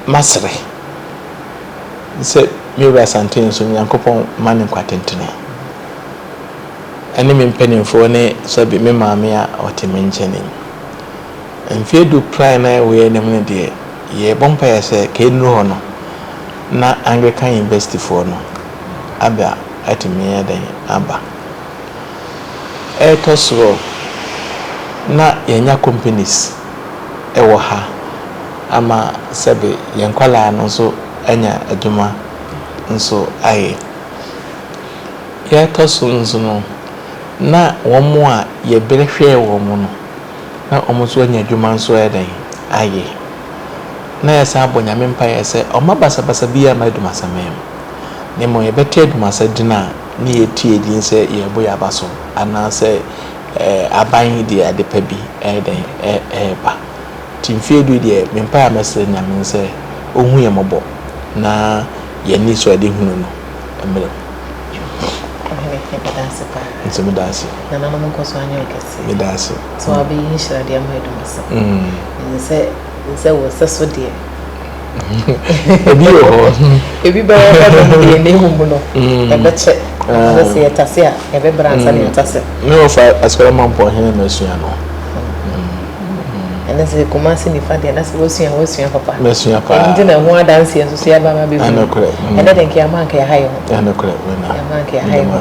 masere sɛ me wura Santee nso Nyankopɔn ma no nkwa atentene. Ɛne me mpanimfoɔ ne sɛbi me maame a ɔte me nkyɛn yi. Mfie du plan na ɛwɔ anim no deɛ yɛbɔ mpaeɛ sɛ kɛnnuru hɔ no na Anglican Universityfoɔ no abɛ a, atumi ayɛ dɛn aba? Ɛtɔ so a, na yɛanya companies wɔ ha ama sɛbe yɛn nkwadaa no nso anya adwuma nso ayɛ. Deɛ ɛtɔ so nso no, na wɔn a yɛbrɛ hwɛɛ wɔn no, na wɔn nso anya adwuma nso ayɛ dɛn? Ayɛ. Na yɛsan bɔ Nyame mpaeɛ sɛ ɔmma basabasa biara mma Adumasaman mu. na mmom yɛbɛka adwumasɛ den a na yɛatua din sɛ yɛrebo yɛn aba so anaasɛ aban yi de ade pa bi reyɛ dɛn reba. Nti mfeɛ du yi deɛ me mpaeɛ a mɛsrɛ Nyame ne sɛ ɔnhu yɛn mmɔbɔ na yɛn anisoadehunu no mmerɛ mu. Ɔhene, yɛda wo ase paa. Nso meda wo ase. Nananom nkɔso anyɛ wo kɛseɛ. Meda wo ase. Sɛ w'aba yi nhyira deɛ ama adwuma so. Ɛsɛ sɛ wo nsɛso deɛ. ebi wɔ hɔ ebi bɛyɛ hɔ nom deɛ ne hu mu no mm. ɛbɛkyɛ ɛbɛ sɛ yɛtase a ɛbɛbrɛ ansa ne mm. yɛtase me wɔfa asukara ma mpɔ hene ma asua no ɛne sɛ kuma se nifa deɛ na sɛ wɔsua wɔsua papa masua paa ɛnti na ho adanseɛ nso so yɛaba ma bɛhu ɛnɛ de nkeama nka yɛha yɛ ho ɛnɛ korɛ ɛma nka yɛha yɛ ho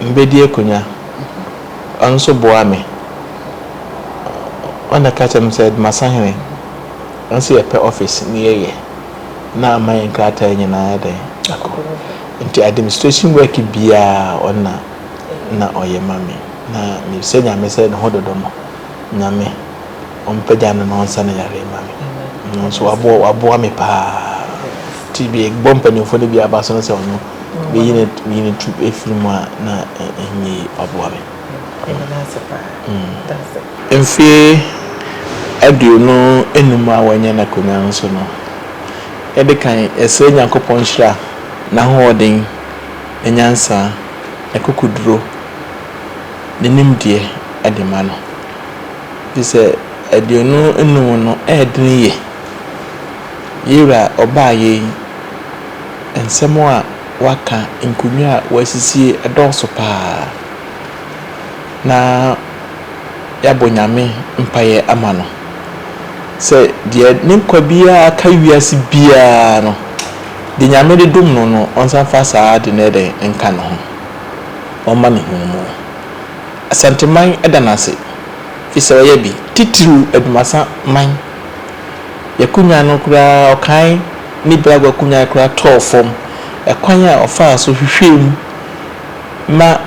Mebɛdi akonya. Ɔno nso boaa me. Ɔno na ɛka kyerɛɛ me sɛ, Masahene, ɛsɛ sɛ yɛpɛ office na yɛyɛ, na ama yɛn nkrataa nyinaa ayɛ dɛn? Akɔ. Nti administration work biara ɔno na na ɔyɛ ma me. Na mebisa Nyame sɛ ne ho dodɔ no, Nyame. Ɔmpagya me ma ɔnsa ne yare mma me. Ɔno nso waboa waboa me paa. Ti bi bɔ mpanyinfoɔ no bi aba so no sɛ ɔno bɛyi ne yi ne tu efiri mu a na ɛnyɛ yi waboa me. Mfie aduonu enum a wanya no akonnwa no so no, yɛde kan yɛsrɛ Nyankopɔn nhyira, n'ahoɔden, ne nyansa, n'akokoduro, ne nimdeɛ de ma no. Te sɛ aduonu nnum no, ɛɛdene ye. Yewura ɔbaa yei, nsɛm a waka, nkonnwa a wasisie, ɛdɔɔso paa. Na yɛabɔ Nyame mpaeɛ ama no sɛ deɛ ne nkwa biara ka wiase biara no, deɛ Nyame de dom no no, ɔnsan mfa saa ade no ɛdɛn nka ne ho, ɔmma ne nhunumu. Asanteman da no ase fi sɛ ɔyɛ bi, titiriw Adwumasa man. Y'akonwa no koraa ɔkae ne Bragg akonwa koraa tɔɔ fam. Ɛkwan a ɔfaa so hwehwɛɛ mu ma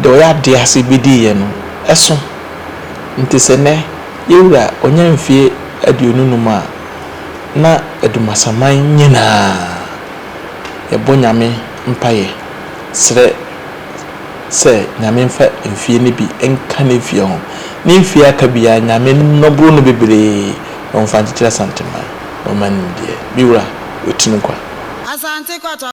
deɛ ɔyɛ adeɛ ase bediiɛ no ɛso. Nti sɛ nnɛ yɛwura ɔnya mfie aduonu num a na Adwumasa man nyinaa yɛbɔ Nyame mpaeɛ srɛ sɛ Nyame mfa mfie no bi nka ne mfie ho. Ne mfie a aka biara Nyame nnɔboro no bebree na ɔmfa nkyekyere Asanteman na ɔmma nimdeɛ. Me wura, watu no kwa. Asante Kɔtɔ.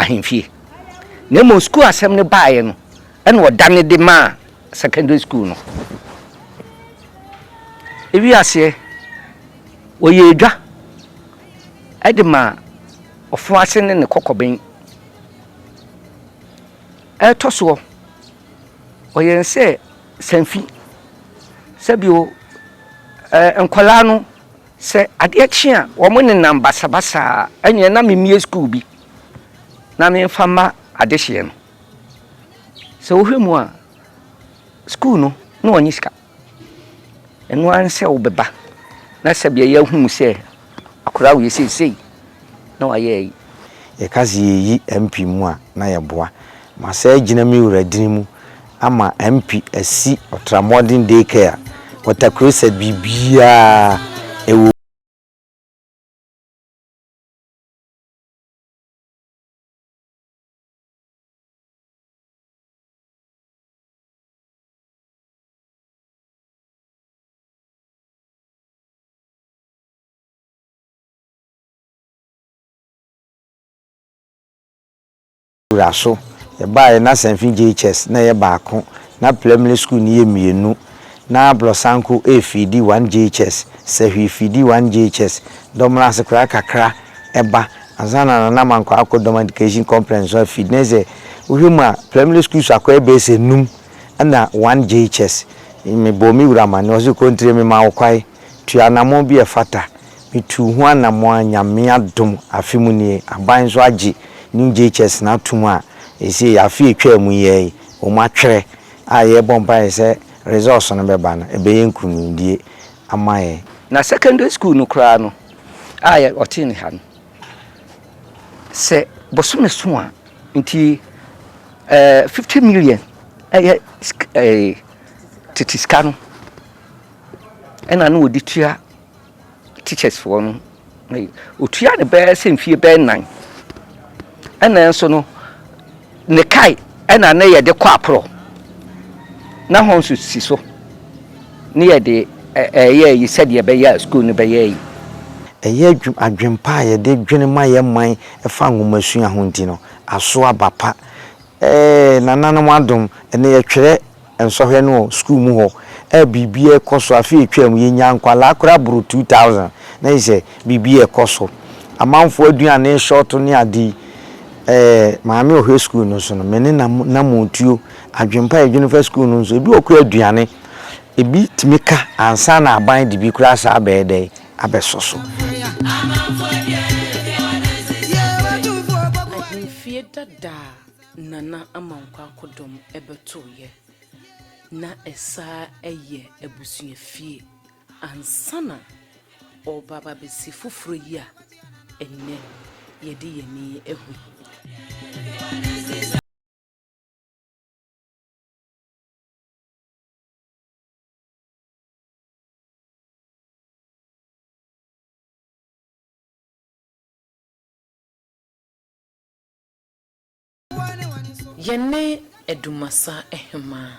ahemfie na mmom sukuu asɛm no baeɛ no ɛna ɔda ne de maa secondary school no ewi aseɛ wɔyɛ adwa Ɛde ma ɔfo ase ne ne kɔkɔben. Ɛtɔ soɔ, ɔyɛ no sɛ sanfi. Sɛ bio, ɛɛ nkwadaa no, sɛ adeɛ kye a, wɔnenam basabasa a, ɛnneɛ na memmue sukuu bi na memfa mma adehyeɛ no. Sɛ wohwɛ mu a, sukuu no, na wɔnyɛ sika. Ɛno ara ne sɛ wobɛba na sɛdeɛ yɛahu wo sɛ akwadaa wei seesei na wayɛ ayi. Yɛka sɛ yɛyi MP mu a na yɛboa ma saa agyina me wura dini mu ama MP asi Ɔtramoɔden day care Water Crusade biribiara ɛwɔ mu. wura so. Yɛbaeɛ na Sanfi JHS na ɛyɛ baako, na Plemle School no yɛ mmienu. Na Blɔsanko ɛyɛ Fiidi 1 JHS, Sahwi Fiidi 1 JHS, Dɔmena ase koraa kakra ɛba ansa na Nana Mankwaa akɔ Dɔm Education Complex nso afeed. Na ɛsɛ wohwɛ mu a, Plemle Schools akɔ ɛbɛyɛ sɛ nnum. Nna One JHS, mebɔɔ me wura amanneɛ, ɔse Kontre memaa wo kwae, tu anamɔn bi a ɛfata. Metuu ho anamɔn a Nyame adom afe mu nie, aban nso agye New JHS no atom a ɛsei afe a ɛtwaa mu yi ara yi wɔn atwerɛ a yɛrebɔ mpaeɛ sɛ results no bɛba no, ɛbɛyɛ nkunimdie ama yɛn. Na secondary school no koraa no a ɔte nneha no, sɛ bosome so a, nti Eh, fifty million ɛyɛ eh, tete sika no ɛna na wɔde tua teachers foɔ no ɔtua ne bɛɛ sɛ mfie bɛɛ nnan ɛna nso no ne kae ɛna ne yɛde kɔ aporɔ na hɔ nso si so ne yɛde ɛyɛ yi sɛdeɛ ɛbɛyɛ a sukuu no bɛyɛ yi ɛyɛ adwempa a yɛde dwene ma yɛ man ɛfa nwomasua ho nti no aso aba pa eeh nananom adom ɛnɛ yɛtwerɛ nsɔhwɛ no wɔ school mu hɔ a biribi ɛkɔso afe ɛtwaam yɛnyaa nkwadaa koraa boro 2000 na kyesɛ biribi ɛkɔso amanfoɔ aduane short ne ade yi eeh maame ɔhwɛ school no so no me ne namo tuo adwenpa yɛdwene fa school no nso ebi wɔ koraa aduane ebi tumi ka ansa na aban de bi koraa saa bɛyɛ dɛn. abɛsɔ so. Ahemfie dada a Nana Ama Nkwako dɔm bɛtoeɛ, na ɛsan yɛ abusuafie ansa na ɔreba aba abɛsi foforɔ yi a ɛnnɛ yɛde yɛn ani ahu yi. Yɛne Dumassa Ahemaa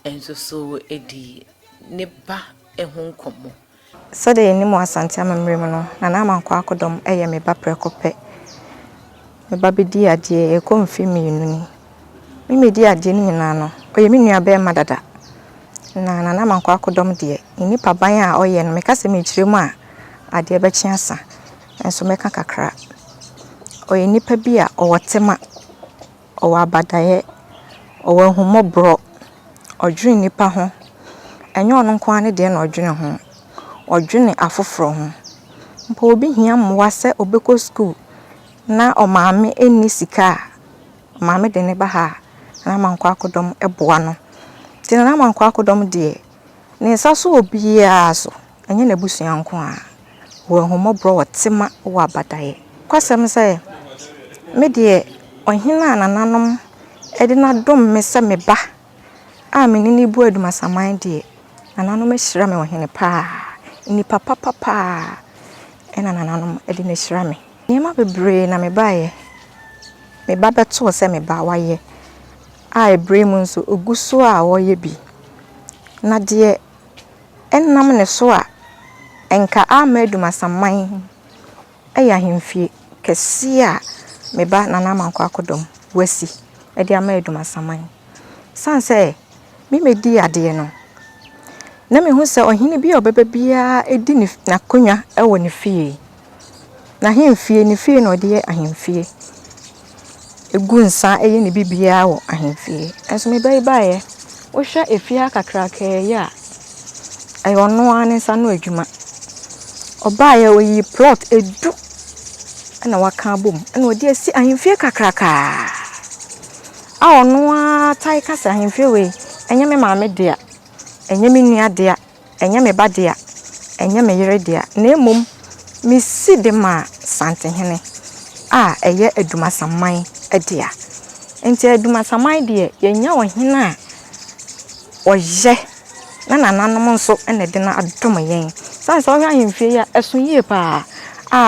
nso so di ne ba ho nkɔmmɔ. Sɛdeɛ yɛnim wɔ Asante amammerɛ mu no, Nana Amankwah Akodɔm yɛ me ba prɛko pɛ. Me ba bɛdii adeɛ, ɛrekɔ mfeɛ mmienu ni. Me medi adeɛ no nyinaa no, ɔyɛ me nua barima dada. Na Nana Mankwa akodɔm deɛ, ne nipa ban a ɔyɛ no, meka sɛ mekyerɛ mu a, adeɛ bɛkye asa. Nso mɛka kakra. Ɔyɛ nipa bi a ɔwɔ tema, ɔwɔ abadaeɛ, ɔwɔ ahummɔborɔ, ɔdwene nnipa ho. Ɛnyɛ ɔno nko ara ne deɛ na ɔdwene ho, ɔdwene afoforɔ ho. Mpo obi hia mmoa sɛ ɔbɛkɔ sukuu na ɔmaame nni sika a. Maame de ne ba ha a na Amankwa akodɔm boa no. Nti na Amankwa akodɔm deɛ ne nsa sɔ obiara so, ɛnyɛ n'abusua nko ara. Ɔwɔ ahummɔborɔ, ɔwɔ tema, ɔwɔ abadaeɛ. Nokwasɛm sɛ, me deɛ ɔhene a nananom de no adom me sɛ me ba a me ne no bu adumasaman deɛ, nananom ahyira me ɔhene pa ara. Nnipa papa pa ara na nananom de no ahyira me. Nneɛma bebree na mebaeɛ, me ba bɛtoo sɛ me ba wayɛ, a ɛberɛ mu nso ɔgu so a ɔreyɛ bi, na deɛ ɛnam ne so a ɛnka amma Adumasamman yɛ ahemfie kɛseɛ a me ba Nana Amankwa Akodɔm wasi de ama Adumasamman. Ɛsiane sɛ me mɛdi adeɛ no, na mehu sɛ ɔhene bi a ɔbɛba biara di n'akonnwa wɔ ne fie. N'ahemfie, ne fie na ɔde yɛ ahemfie. Egu nsa yɛ ne biribiara wɔ ahemfie. Nanso me ba yi baeɛ, wohwɛ efie ha kakrakaa yi a, ɛyɛ ɔno ara ne nsa ano adwuma. Ɔbaeɛ, ɔyii plot du na waka abɔ mu na ɔde asi ahemfie kakrakaa a ɔno ara tae ka sɛ, ahemfie wei, ɛnyɛ me maame dea, ɛnyɛ me nua dea. Ɛnyɛ me ba dea, ɛnyɛ me yere dea, na mmom mesi de ma Santehene a ɛyɛ Adumasamman dea. Enti Adumasamman deɛ, yɛanya ɔhene a ɔyɛ na nananom nso na ɛde no adom yɛn. Sane sɛ wohwɛ ahemfie yi a, ɛso yie pa ara.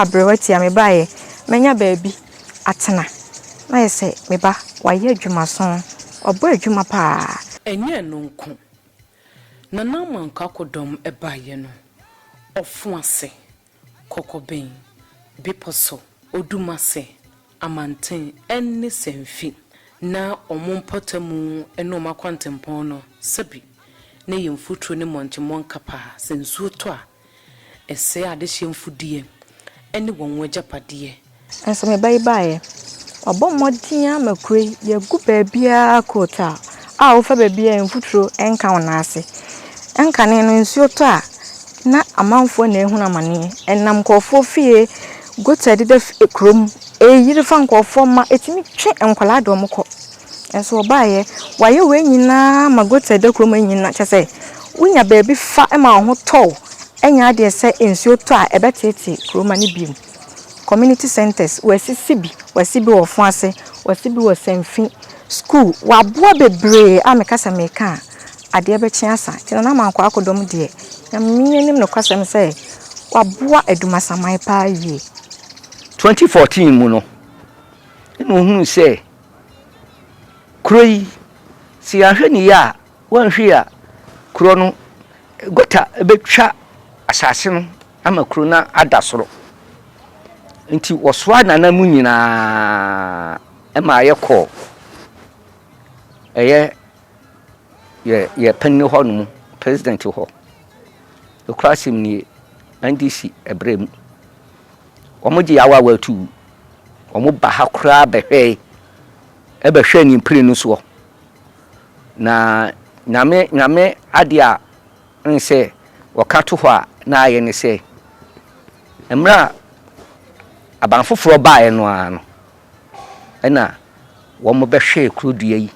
A, berɛ tiaa me baeɛ, manya baabi atena. Na ayɛ sɛ me ba, wayɛ adwumaso, wabɔ adwuma pa ara. Ɛnyɛ ɛno nko, Na Naaman kakodɔm baeɛ no, ɔfo ase, kɔkɔbɛn, bepɔ so, odum ase, amanten, ne sanfi, na wɔn mpɔtamu ne wɔn akwantempɔn no, sɛbe na ɛyɛ mfuturo ne mmɔnkye mmɔnka paa, sɛ nsuo tɔ a, Ɛsɛe adehyeɛ mfudeɛ ne wɔn agyapadeɛ. Nanso me ba yi baeɛ. Wabɔ mmɔden ara ma kuro yi yɛagu baabiara coat a a wofa baabiara mfuturo nka wo nan ase. Ɛnkane no nsuo tɔ a na amanfoɔ na ɛrehunu amaneɛ. Ɛnam nkurɔfoɔ fie, gutter deda fie kurom, ɛreyiri fa nkurɔfoɔ mma, ɛtumi twe nkwadaa de wɔn kɔ. Nanso ɔbaeɛ, wayɛ wei nyinaa ma goat ɛda kurom ha nyinaa, kyerɛ sɛ wonya baabi fa ma wo ho tɔ wo, ɛnyɛ adeɛ sɛ nsuo tɔ a ɛbɛteetee kurom ha no bio. Community centres, wɔasisi bi, wɔasi bi wɔ Ɔfoase, wɔasi bi wɔ Sanfi, school, wɔaboa bebree a meka sɛ meka a adeɛ bɛkye asa. Nti Nana Amankwaa Akodɔm deɛ, Nyame anim nokwasɛm sɛ waboa Adumasaman paa yie. 2014 mu no, ɛna ɔhunuu sɛ Kuro yi, sɛ yɛanhwɛ no yie a, wɔanhwɛ yie a, kuro no, gɔta bɛtwa asase no ama kuro no ada soro. Nti wɔsoaa Nana mu nyinaa ma yɛkɔɔ ɛyɛ yɛ yɛ panin hɔ nom, president hɔ. Nokorɛ asɛm nie, NDC ɛberɛ mu. Wɔgyee awaawa tuu. Wɔba ha koraa bɛhwɛe, ɛbɛhwɛɛ ne mprenu no soɔ. Na Nyame, Nyame adeɛ a wohu sɛ wɔka to hɔ a na ayɛ ne sɛ, mmerɛ a aban foforɔ baeɛ no ara no, na wɔbɛhwɛɛ kuro dua yi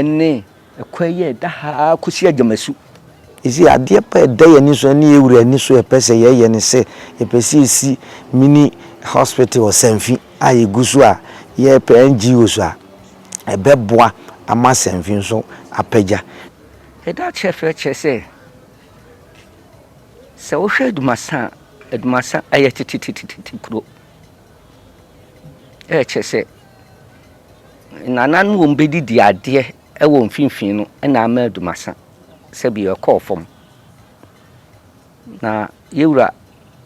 ne ɛkwan yi a ɛda ha ara kɔsi Agyamasu. Ɛsei adeɛ pa a ɛda yɛn ani so ɛne yɛn wura ani so a ɛpɛ sɛ yɛyɛ ne sɛ yɛpɛ sɛ yɛsi mini hospital Ɔsanfi a yɛgu so a yɛpɛ NGOs a ɛbɛboa ama Sanfi nso apagya. Yɛda akyerɛkyerɛ kyerɛ sɛ, sɛ wohwɛ Dumasa a, Dumasa ayɛ tetetete kuro. Ɛkyɛ sɛ nana no wɔn bɛdidi adeɛ ɛwɔ mfimfini no ɛna ama adumasa sɛbi ɛkɔɔ fam na yɛwura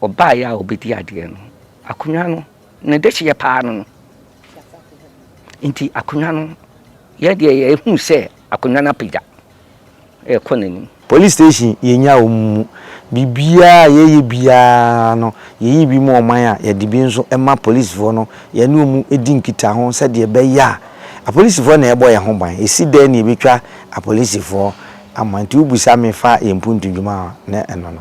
ɔbaeɛ a ɔbɛdi adeɛ no akonnwa no ne dehyeɛ paa no no nti akonnwa no yɛdeɛ yɛhu sɛ akonnwa no apagya rekɔ n'anim. Police station yɛnya wɔn mu. Biribiara a yɛyɛ biara no yɛyi bi ma ɔman a yɛde bi nso ma polisifoɔ no yɛne wɔn di nkitaho sɛdeɛ ɛbɛyɛ a apolisifoɔ na ɛbɔ yɛn ho ban. Ɛsi dɛn na yɛbɛtwa apolisifoɔ ama nti wobisa me fa yɛn mpuntu dwuma a na ɛno no.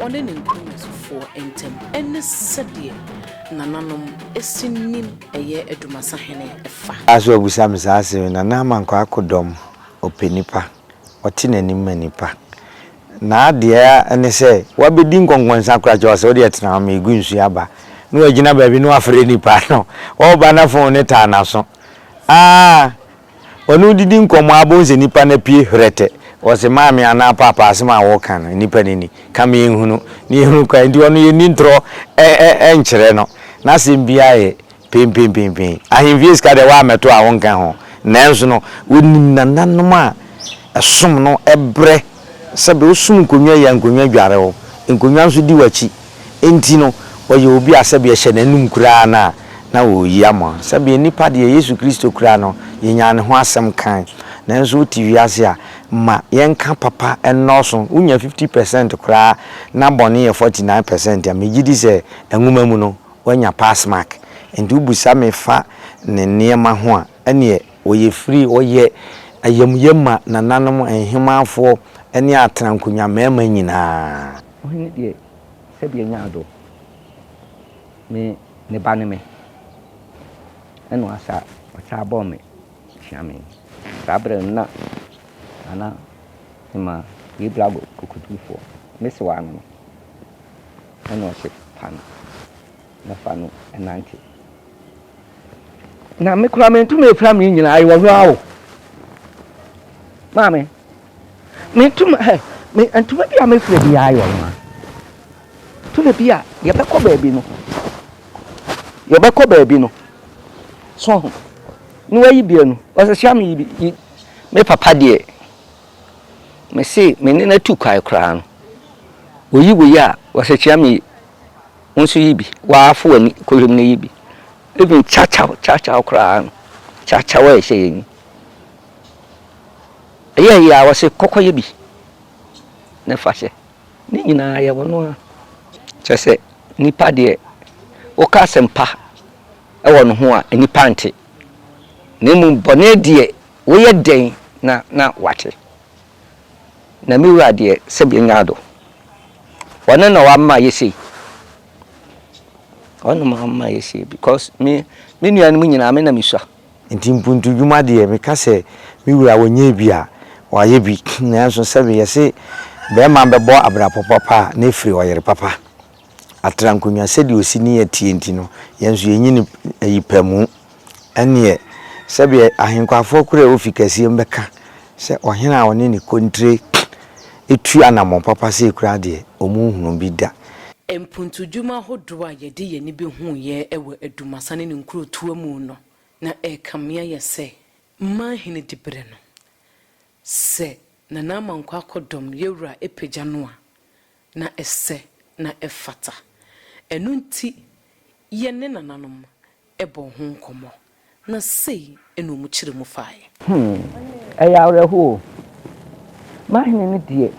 ɔne ne nkurɔfoɔ ntam ne sɛdeɛ nananom si nim ɛyɛ Adumasahene fa. Baa so ɔbisa me saa asɛm yi, Nana Amankwa akodɔm, ɔpɛ nnipa, ɔte n'anim ma nnipa. N'adeɛ ara ne sɛ wabɛdi nkɔnkɔnsa koraa kyerɛ wo sɛ wodeɛ tena hɔ ma yɛgu nsuo aba na wagyina baabi na wafrɛ nnipa no, ɔreba na fon no taa n'aso. Aa! Wɔne wo didi nkɔmmɔ ara bohu sɛ nipa no apue hwrɛtɛ. Wɔse maame anaa paapa asem a woka no nipa no ni. Ka ma yɛnhunu na yɛhunu kwan nti ɔno yɛnni ntorɔ nkyerɛ no. N'asem biara yɛ penpenpenpen. Ahemfie sika deɛ woammɛto a wonka ho. Nanso no wonim nananom a ɛsom no brɛ. Sɛbe wosum nkonnwa yi a, nkonnwa dware wo, nkonnwa nso di w'akyi. Enti no, ɔyɛ obi a sɛbe ɛhyɛ n'anom koraa no a, na wɔreyi ama wo. Sɛbe nnipa deɛ, Yesu Kristo koraa no, yɛnyaa ne ho asɛm kae. Nanso wote wiase a, ma yɛnka papa nnɔɔso. Wonya fifty percent koraa na bɔne yɛ forty nine percent a, megye di sɛ nwoma mu no, woanya pass mark. Enti wobusa me fa ne nneɛma ho a, ɛnneɛ, Wɔyɛ firi, wɔyɛ ayamyɛ ma nananom nhemanfoɔ ne atenankonwa mmarima nyinaa. Ohene deɛ sɛdeɛ nyaa dɔ me ne ba ne me ɛna ɔasa ɔsaa bɔɔ me tua me. Saa berɛ no na Nana Hemaa yɛ Blago kokodurufoɔ. Me sewaa no no ɛna ɔhye pa no. na fa no nante. Na me koraa mentum mfira me nyinaa ayɛ ɔhwɛ o. Maame, mentum ɛ me ntoma bi a mefira bi ayɛ ɔhwɛ. Tumi bi a yɛbɛkɔ baabi no yɛbɛkɔ baabi no so ho na wayi bia no ɔsɛ hyia me yi bi me papa deɛ mese me ne no atu kwae koraa no oyi wei a ɔsɛ kyia me yi Wo nso yi bi. Waa fo w'ani kɔ wiem na yi bi. Even kyakyaw kyakyaw koraa no, kyakyaw a ɛhyɛ yɛn yi. Ɛyɛ yɛ a wɔse kɔ kɔyɛ bi na fa hyɛ. Ne nyinaa yɛwɔ no ara. Kyerɛ sɛ nipa deɛ woka asɛm pa wɔ ne ho a nnipa nte. Na mmom bɔne deɛ woyɛ dɛn na na wɔate. na me wura deɛ sɛ bia nya do ɔno na wama yɛ sei ɔno na wama yɛ sei because me me nua no mu nyinaa me na me sua. Nti mpuntu dwuma deɛ me ka sɛ me wura wɔ nyɛɛ bi a wayɛ bi nanso sɛ me yɛse bɛɛma bɛbɔ abrapɔ papa a na ɛfiri ɔyere papa. Atra nkonnwa sɛdeɛ ɔsi ne yɛ teɛ nti no, yɛn nso yɛnyi no ayi pɛ mu. Ɛnneɛ, sɛdeɛ ahenkwafoɔ korɔ a wɔfi kɛseɛ mu bɛka sɛ ɔhene a ɔne ne kontire tu anammɔn papa sei koraa deɛ, wɔnhunuu bi da. Mpuntudwuma ahodoɔ a yɛde yɛn ani bɛhuuɛ wɔ Dumasa ne ne nkurotoɔ mu no na ɛrekame ayɛ sɛ Manhene diberɛ no. Sɛ Nana Amankwa akɔdɔm, Yawura, pagya no a, na ɛsɛ na ɛfata. Ɛno nti yɛ ne nananom bɔɔ ho nkɔmmɔ, na sei na wɔn kyerɛ mu faeɛ. Hmm, ɛyɛ awerɛhoɔ o. M'ahene no deɛ,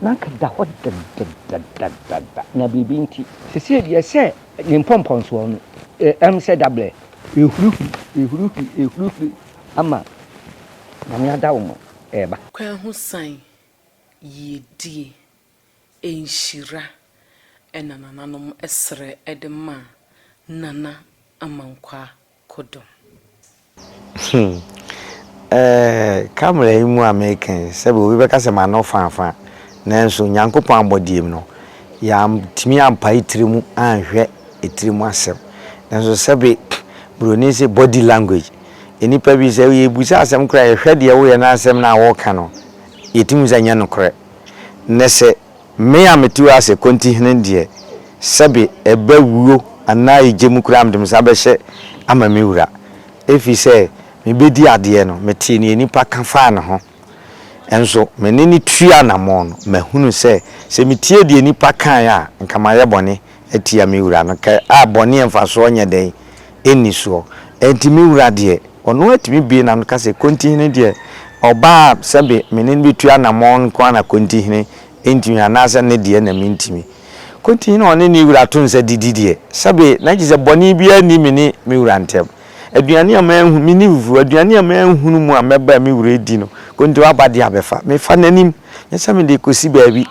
na anka da hɔ dɛdɛdɛdɛdɛdɛdɛ, na biribi nti. Seesei deɛ sɛ ne mpɔmpɔnsoɔ no, ɛm sɛ dabrɛ. Ɛhurihuri, ɛhurihuri, ɛhurihuri ama Nyame Adawoman reba. Kwahu san yiedie. nhyira na nananom srɛ de ma Nana Amankwaa Kodom? Hmm. Ɛɛ, camera yi mu a mereka yi, sɛbe obi bɛka sɛ m'ano fãfã. Nanso Nyankopɔn abɔdeɛ mu no, yɛantumi ampae tiri mu anhwɛ tiri mu asɛm. Nanso sɛbe Buroni se body language. Nnipa bi, sɛ yɛrebisa asɛm koraa a, yɛhwɛ deɛ woreyɛ na asɛm no a woreka no, yɛtumi hu sɛ ɛnyɛ nokorɛ. Ne se, Me a metu ara se Kontihene deɛ, sɛbe eba wuo anaa egya mu koraa mede me nsa bɛhyɛ ama me wura. Efiri sɛ mebɛdi adeɛ no, metee nea nnipa ka faa ne ho, nso me ne no tuu anammɔn no, mahunu sɛ, sɛ metie deɛ nnipa kaeɛ a, anka mayɛ bɔne. atia me wura no ka a bɔne a mfasoɔ nyɛ dɛn nni soɔ. Enti me wura deɛ, ɔno ara tumi bue n'ano ka sɛ, Kontihene deɛ, ɔbaa a sɛbe me ne no bɛtu anammɔn nko ara na Kontihene ntumi anaasɛ ne deɛ na mentumi. Kontihene a ɔne ne wura to nsa didi deɛ, sɛbe na gye sɛ bɔne biara nni me ne me wura ntam. Aduane a manhu, menni foforɔ, aduane a manhunu mu a mɛba a me wura redi no, Kontiwaba deɛ abɛfa. Mefa n'anim, nyɛ sɛ mede rekɔsi baabi.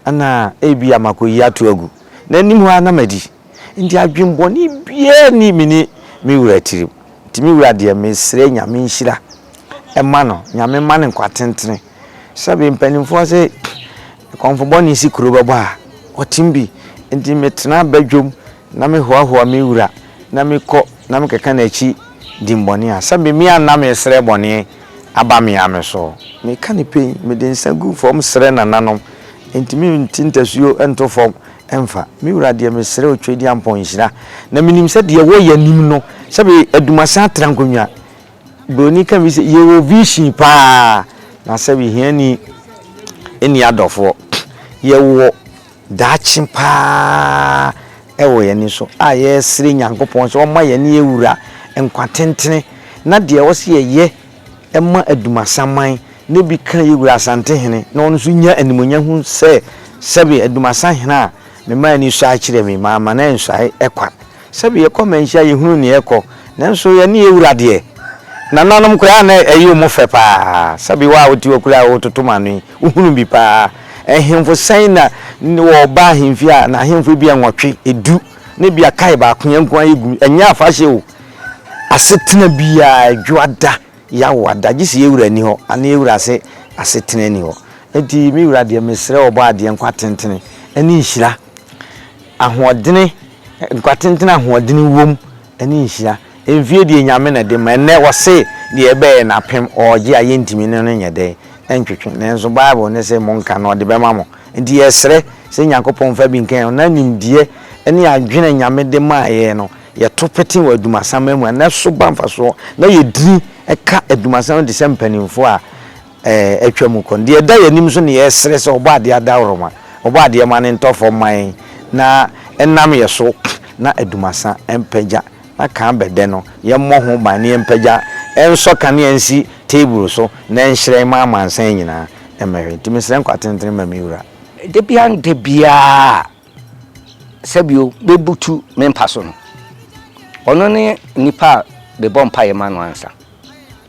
Ɛna ebia makoyi ato agu n'anim hɔ ara na madi. Enti adwemmɔne biara nni me ne me wura tirim. Enti me wura deɛ, mesrɛ Nyame nhyira mma no. Nyame mma no nkwa tentene. Sɛbe mpanimfoɔ se kɔmfo bɔne si kuro bɛbɔ a, ɔtem bi. Enti metena badwam na mehoahoa me wura na mekɔ na mekeka n'akyi dimmɔne a, sɛbe me a na mesrɛ bɔne. aba me ara me so. Meka no pɛn, mede nsa gu fɔm srɛ nananom, enti me nte ntasuo nto fɔm mfa. Me wura deɛ mesrɛ wo Tweediampɔn nhyira, na menim sɛ deɛ wɔ yɛ nim no, sɛbe Adumasen atra nkonnwa. Broni ka bi sɛ yɛ wɔ vision paa, na sɛbe hiani nni adɔfoɔ. Yɛ wɔ daakye paa wɔ yɛn ani so a yɛresrɛ Nyankopɔn sɛ ɔmma yɛne yɛawura nkwa tentene na deɛ ɛwɔ sɛ yɛyɛ ma Adumasaman na ebi ka yɛwura Asantehene na ɔno nso nya animuonyam hu sɛ sɛbe Adumasahene a mema ani sɔe akyerɛ me, mamma no ansuae kwa. Sɛbi yɛkɔ manhyia yɛhunu neɛ ɛkɔ nanso yɛne yɛwura deɛ nananom koraa na ɛyɛ ɔmu fɛ paa sɛbi wo a wote hɔ koraa wototom ano yi wohunu bi paa ɛhemfo sɛn na wɔba ahemfie a na ahemfo ebia nwɔtwe edu na ebia kae baako yɛ nkoa yɛ gu ɛnyɛ afahyɛ o asetena biaa ɛdwo ada yawo ada gyese yɛwura ni hɔ ana yɛwura se asetena ni hɔ nti mewura deɛ mesrɛ ɔbɔ adeɛ nkwa tentene ɛne nhyira ahoɔdene Nkwa tenten a ahoɔdene wom ne nhyira. Mfie deɛ Nyame na de ma. Ɛnnɛ wɔse deɛ ɛbɛyɛ nnapem ɔɔgye a yɛntumi ne no nyɛ dɛn? Ɛntwetwe. Nanso Bible no se monka na ɔde bɛma mo. Enti yɛsrɛ sɛ Nyankopɔn mfa bi nka yɛn ho na nimdeɛ ne adwene a Nyame de maa yɛn no yɛto pete wɔ adumasamma mu a na ɛso ba mfasoɔ na yɛdini ka adumasamma te sɛ mpaninfoɔ a atwa mu kɔ no, deɛ ɛda yɛn anim nso na yɛresrɛ sɛ Ɔbɔadeɛ adaworoma, Ɔbɔadeɛ ma no ntɔ fam mma yɛn na ɛnam yɛn so na Adumasa mpagya na kan bɛdɛ no, yɛmmɔ ho ban na yɛmpagya, ɛnsɔ kanea nsi table so na ɛnhyerɛn mma amansan nyinaa mmɛhwɛ. Nti mesrɛ nkwa tentene ma me wura. Da biara ne da biara a sɛbio mɛbutu me mpa so no, ɔno ne nipa a mebɔ mpaeɛ ma no ansa.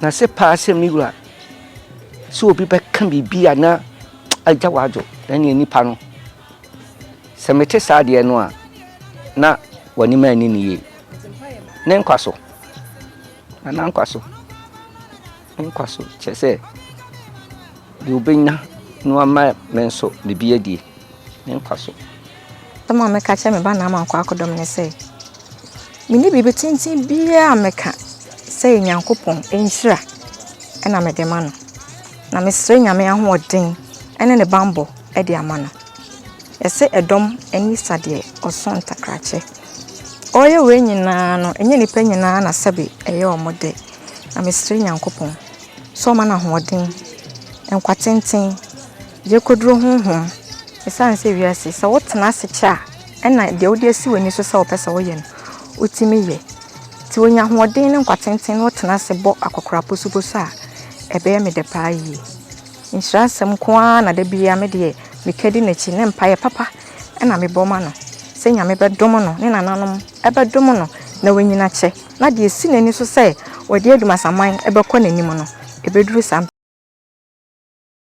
Na se paa sɛ me wura, sɛ obi bɛka biribi a na agya w'adwo, na neɛ nipa no, sɛ mete saa adeɛ no a, na w'anim anni ne yie. Ne nkwa so, na n'ankwa so, ne nkwa so, kyerɛ sɛ deɛ obɛnya no ama me nso biribi adie, ne nkwa so. Asɛm a mɛka akyerɛ me ba Naaman kwakodɔm ne sɛ, Menni biribi tenten biara a mɛka sɛ Onyankopɔn nhyira na mede ma no, na mesrɛ Nyame ahoɔden ne ne bammɔ de ama no. Yɛse ɛdɔm ani sa deɛ ɔsõ ntakrakyɛ. Ɔreyɛ wei nyinaa no, ɛnyɛ nnipa nyinaa na sɛbe ɛyɛ wɔn dɛ, na mesrɛ Nyankopɔn sɛ ɔma no ahoɔden, nkwa tenten, Yɛkɔduru honhom. Ɛsiane sɛ wiase, sɛ wotena ase kyɛ a, ɛna deɛ wode asi w'ani so sɛ wopɛ sɛ woyɛ no, wotumi yɛ. Nti wonya ahoɔden ne nkwa tenten na wotena ase bɔ akɔkora posoposo a, ɛbɛyɛ me dɛ paa yie. Nhyira asɛm nko ara na da biara me deɛ meka di n'akyi ne mpaeɛ papa na mebɔ ma no sɛ Nyame bɛdom no, ne nananom bɛdom no na wanyini akyɛ na deɛ ɛsi n'ani so sɛ ɔde Adumasaman bɛkɔ n'anim no, ɛbɛduru saa.